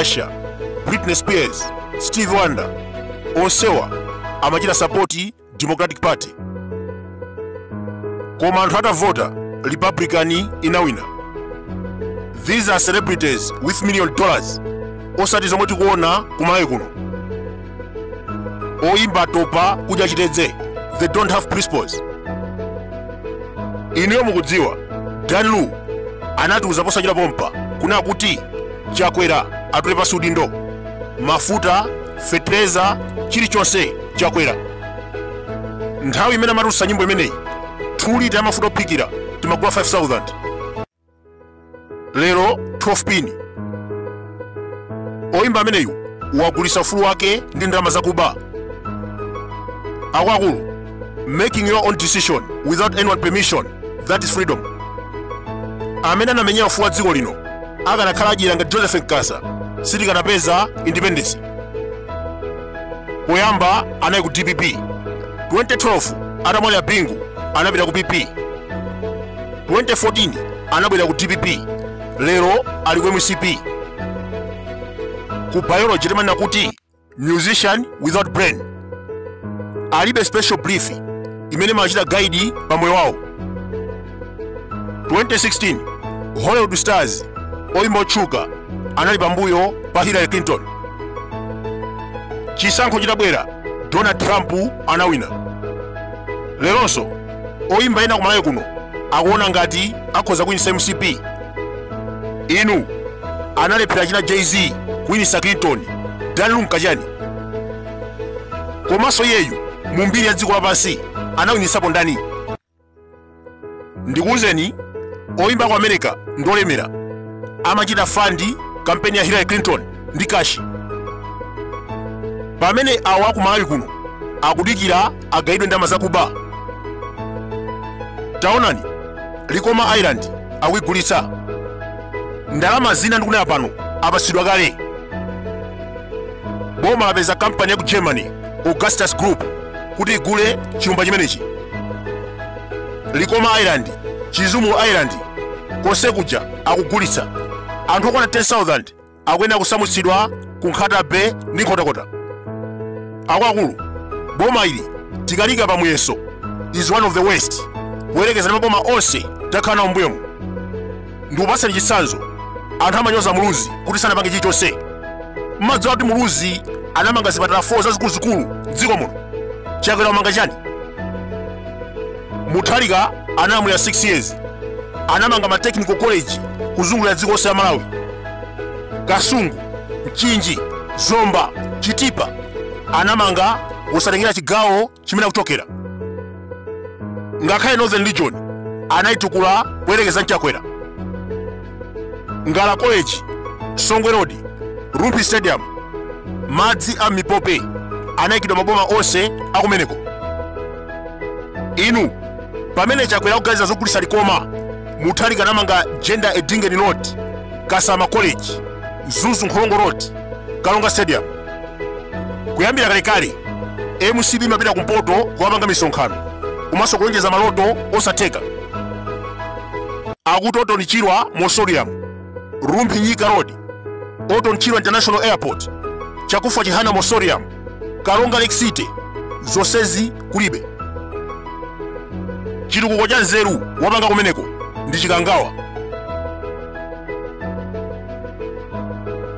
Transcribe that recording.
Usher, Britney Spears, Stevie Wonder onsewa amachita sapoti Democratic Party. Koma anthu atavota Republican inawina. These are celebrities with million dollars osati zomwe tikuona kumalawi kuno. oyimba topa kudya chitedze they don't have principles inuyo mukudziwa dan lu anatiuza posachedwa pompa kunena kuti chakwera atule pansi udindo mafuta fetereza chilichonse chakwera nthawi imene amatulutsa nyimbo imeneyi 2 lita ya mafuta ophikira timagula 5000 lero 12 pin oyimba ameneyu wagulitsa ufulu wake ndi ndalama zakuba akuluakulu making your own decision without anyone permission that is freedom amene anamenyera ufulu wa dziko lino akanakhala adyera ngati joseph nkasa sitikanapeza independence poyamba anali ku dpp 2012 atamwalira bingu anapita ku pp 2014 anabwera ku dpp lero ali ku mcp ku bible amanena kuti musician without brain alibe special belief imene imawachita guide pa moyo wawo 2016 hollywood stars oyimba otchuka anali pambuyo pa hillary clinton chisankho chitabwera donald trump anawina leronso oyimba ena kumalawi kuno akuona ngati akhoza kuwinitsa mcp inu analephera achina jay z kuwinitsa clinton dan lu nkachani komanso iyeyu mu mbiri ya dziko lapansi anawinitsapo ndani ndikuwuzeni oyimba a ku america ndi olemera amachita fandi kampeni ya hillary clinton ndi kashi pamene awo akumalawi kuno akudikira agayiridwe ndalama zakuba taonani likoma island akuigulitsa ndalama zina ndikunena pano apatsidwa kale boma lapeza kampani ya ku germany augustus group kuti igule chilumba chimenechi likoma island chizumu island konse kuja akugulitsa anthu okwana 10000 akuyenera kusamutsidwa ku nkhata bay ndi nkhotakota akuluakulu boma ili tikaliika pa muyezo is one of the worst kuyerekeza ndi maboma onse takhala nawo mbuyomu ndikupatsani chitsanzo anthu amanyoza muluzi kuti sanapange chilichonse mmadziwa kuti muluzi anamanga zipatala 4 zazikuluzikulu m'dziko muno chakwera wamanga chani mutharika analamulira 6 years anamanga ma technical college kuzungulira dziko lonse la malawi kasungu mchinji zomba chitipa anamanga wosatengera chigawo chimene akuchokera ngakhale northern region anayitukula kuyerekeza mchakwera ngala college songwe road rumphi stadium madzi a mipope anayikidwa maboma onse akumeneko inu pamene chakwera akuganiza zogulitsa likoma mutharika anamanga jenda edingeni road kasama college mzuzu nkhorongo road karonga stadium kuyambira kalekale mcp imapita kumpoto kukapanga misonkhano komanso kulonjeza maloto osatheka akuti orton chirwa mausoleum rumphi nyika road orton chirwa international airport chakufwa chihana mausoleum karonga lake city zonsezi kulibe chitukuko cha nzeru wapanga kumeneko ndi chikangawa